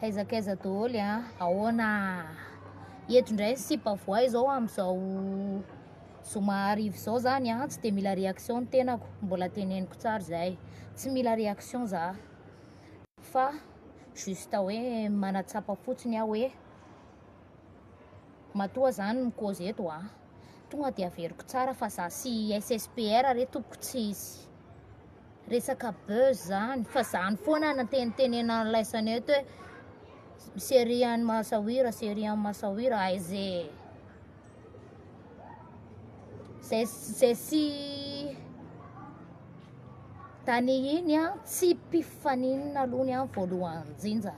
Aiza kaiza daholo a, ahoana eto indray ny sipa voay izao amin'izao zoma arivo izao zany a, tsy dia mila réaction ny tenako, mbola teneniko tsara izay, tsy mila réaction za fa juste hoe manatsapa fotsiny aho hoe matoa zany ny cause eto a, tonga dia averiko tsara fa za sy SSPR re tompoko tsy izy. Resaka buzz zany fa zany foana nantenitenena ny laisany eto hoe serie any masahira serie any masahira ay ze zay zay sy tany iny an tsy mpifaninana aloha ny any voalohany jinja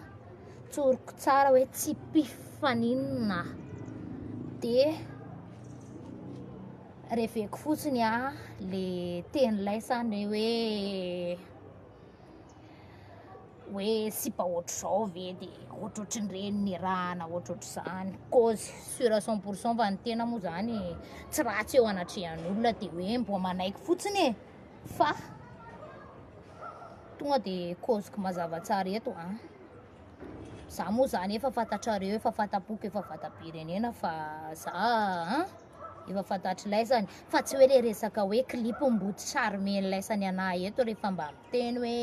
tsoriko tsara hoe tsy mpifaninana de Reveko fotsiny a le tenilay sa ny hoe hoe sipa ohatr'izao ve de ohatrohatry ny reny nirahana ohatrohatr'izany cause sur à cent pour cent fa ny tena moa zany tsy ratsy eo anatrehan'olona de hoe mboa manaiky fotsiny e fa tonga de causeko mazava tsara eto a za moa zany efa fantatrareo efa fantapoko efa fatapirenena fa za a Efa fantatr'ilaisany fa tsy hoe le resaka hoe clip mboty charmen'ilaisany anahy eto rehefa mba miteny hoe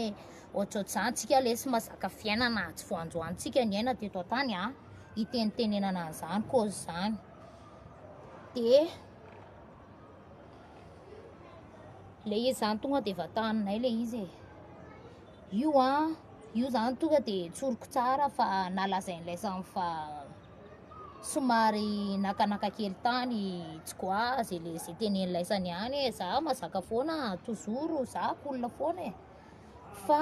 ohatrohatr'izany tsika lesy mazaka fiainana atsy voanjoantsika niaina teto an-tany a hitenitenenana an'izany kozy izany dia le izy zany tonga dia vataninay le izy e io a io zany tonga dia tsoriko tsara fa nalazain'ilay samy fa somary nakanaka kely tany tsy quoi zay le zay tenen'ny laisany ihany hoe za mazaka foana toujours za cool foana e fa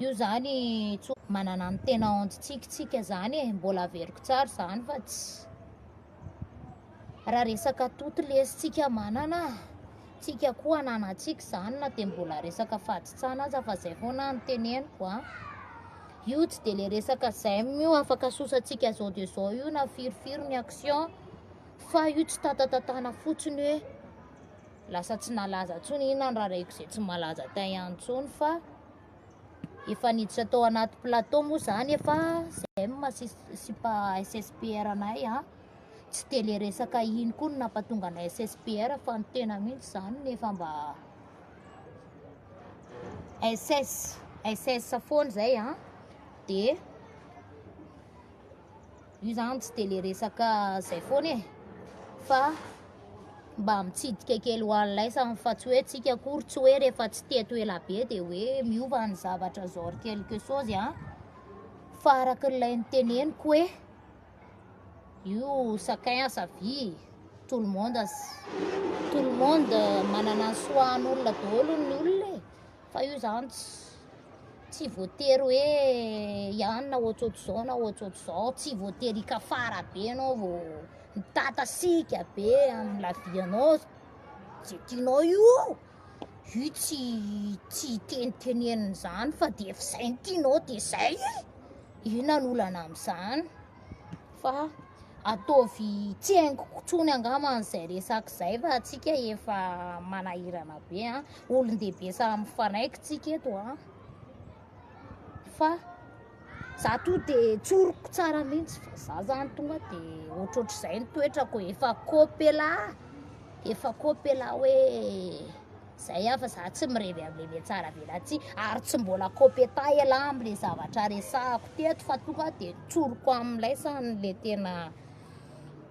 io zany tsy ho- manana ny tena ontsitsikintsika zany e mbola averiko tsara zany fa tsy raha resaka toty lesintsika manana tsika koa ananantsika zany na dia mbola resaka fahatotsana aza fa zay foana ny teneniko a Io tsy dia le resaka j'aime io afaka sosatsika zao de zao io na firy firy ny action fa io tsy tatatatana fotsiny hoe lasa tsy nalaza tsony ina ny raraiko zay tsy malaza tay ihany tsony fa efa niditra tao anaty plateau moa zany efa j'aime sy sipa SSPR anay a tsy dia le resaka iny koa no nampatonga anay SSPR fa ny tena mihitsy zany nefa mba SS SS foana izay an dia io zany tsy dia le resaka izay foana e fa mba mitsidika kely ho an'ny laisany fa tsy hoe tsika akory tsy hoe rehefa tsy teto ela be dia hoe miova ny zavatra zao ry quelque chose an fa araka ilay niteneniko hoe io chacun a sa vie tout le monde as tout le monde manana ny soahan'olona daholo ny olona e fa io zany tsy voatery hoe hianina ohatrohatr'izao na ohatrohatr'izao tsy voatery hikafara be ianao vao mitatasiaka be amin'ny la vie anao zay tianao io io tsy tsy hitenitenenina izany fa dia efa izay ny tianao dia izay e Inona no olana amin'izany? Fa ataovy tsy haingoko tsony angamba an'izay resaka izay fa atsika efa manahirana be an. Olon-dehibe samy mifanaiky tsika eto an. Fa za to de tsoriko tsara mihitsy fa za zany tonga de ohatrohatr'izay ny toetrako efa kopela efa kopela hoe Zay ah fa za tsy mirevy amle metsara be latsy ary tsy mbola compétent elah amle zavatra resahako teto fa tonga de tsoriko amlay sany le tena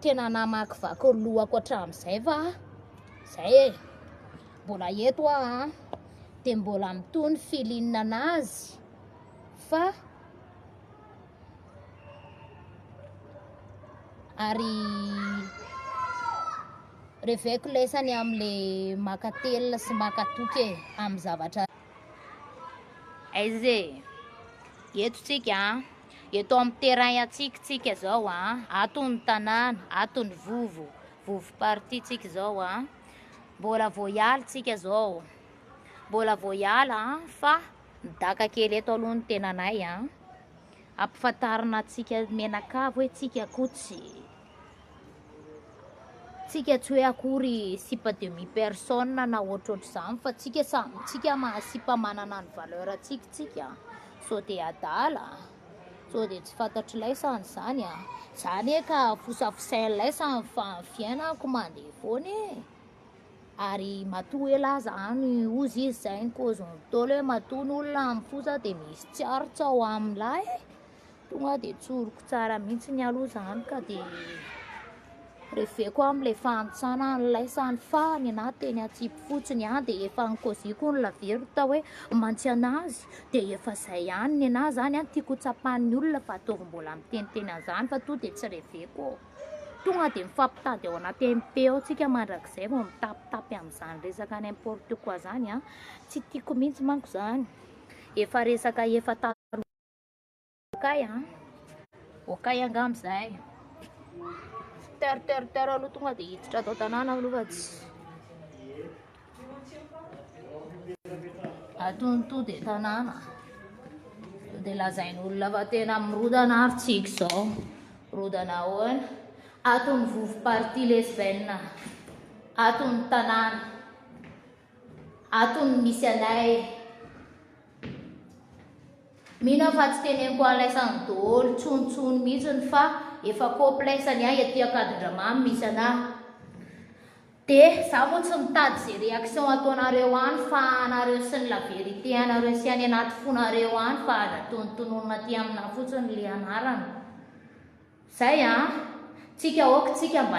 tena namakivaky ny lohako hatramizay fa zay e mbola eto ah an de mbola mitohy ny feeling anazy fa ary Reveko lesany amle maka telina sy maka toky e am zavatra. Aiza e? Eto tsika a. Eto am terrain antsika tsika zao a. Ato ny tanàna, ato ny vovo, vovo parti tsika zao a. Mbola vao hiala tsika zao. Mbola vao hiala a fa midaka kely eto aloha ny tenanay a. Ampifantarina antsika menakavy hoe tsika koa tsy Tsika tsy hoe akory sipa demi personne na ohatrohatr'izany fa tsika samy tsika maha sipa manana ny valeur antsika tsika sao de adala sao de tsy fantatry laisany zany a zany e ka fosafosain laisany fa ny fiainako mandeha foana e ary matoa hoe laza any ozy izy zay ny cause ny tôlo hoe matoa ny olona mifosa de misy tsy aritsao amin'ilay e Tonga dia tsoriko tsara mihitsy ny aloha izany ka dia reveko amin'ilay fahantsana nilaisany fa ny anah teny atsipy fotsiny ihany dia efa nikoziko ny lavero tao hoe mantsy an'azy dia efa izay ihany ny anah izany an tiako tsapan'ny olona fa ataovy mbola miteniteny an'izany fa tonga dia tsy reveko tonga dia mifampitady ao anaty MP ao tsika mandrakizay vao mitapitapy amin'izany resaka ny importe quoi izany an tsy tiako mihitsy manko izany efa resaka efa Okay an. Okay angamba zahay. Ter ter ter aloha tonga dia hiditra ato tanàna aloha fa tsy atony to dia tanàna. Dia lazain'olona fa tena mirodana ary tsika izao. Rodana ahoana? Atony vovo parti lesbienne. Atony tanàna. Atony misy anay. Mino aho fa tsy teneniko alaisany doolo tsony tsony mihitsiny fa efa complexe ny ahy aty Ankadindramamy misy anahy de za moa tsy mitady ze reaction ataonareo any fa anareo sy ny la vérité anareo sy any anaty fonareo any fa aza tonontononina aty aminah fotsiny le anarana zay an tsika ok tsika mba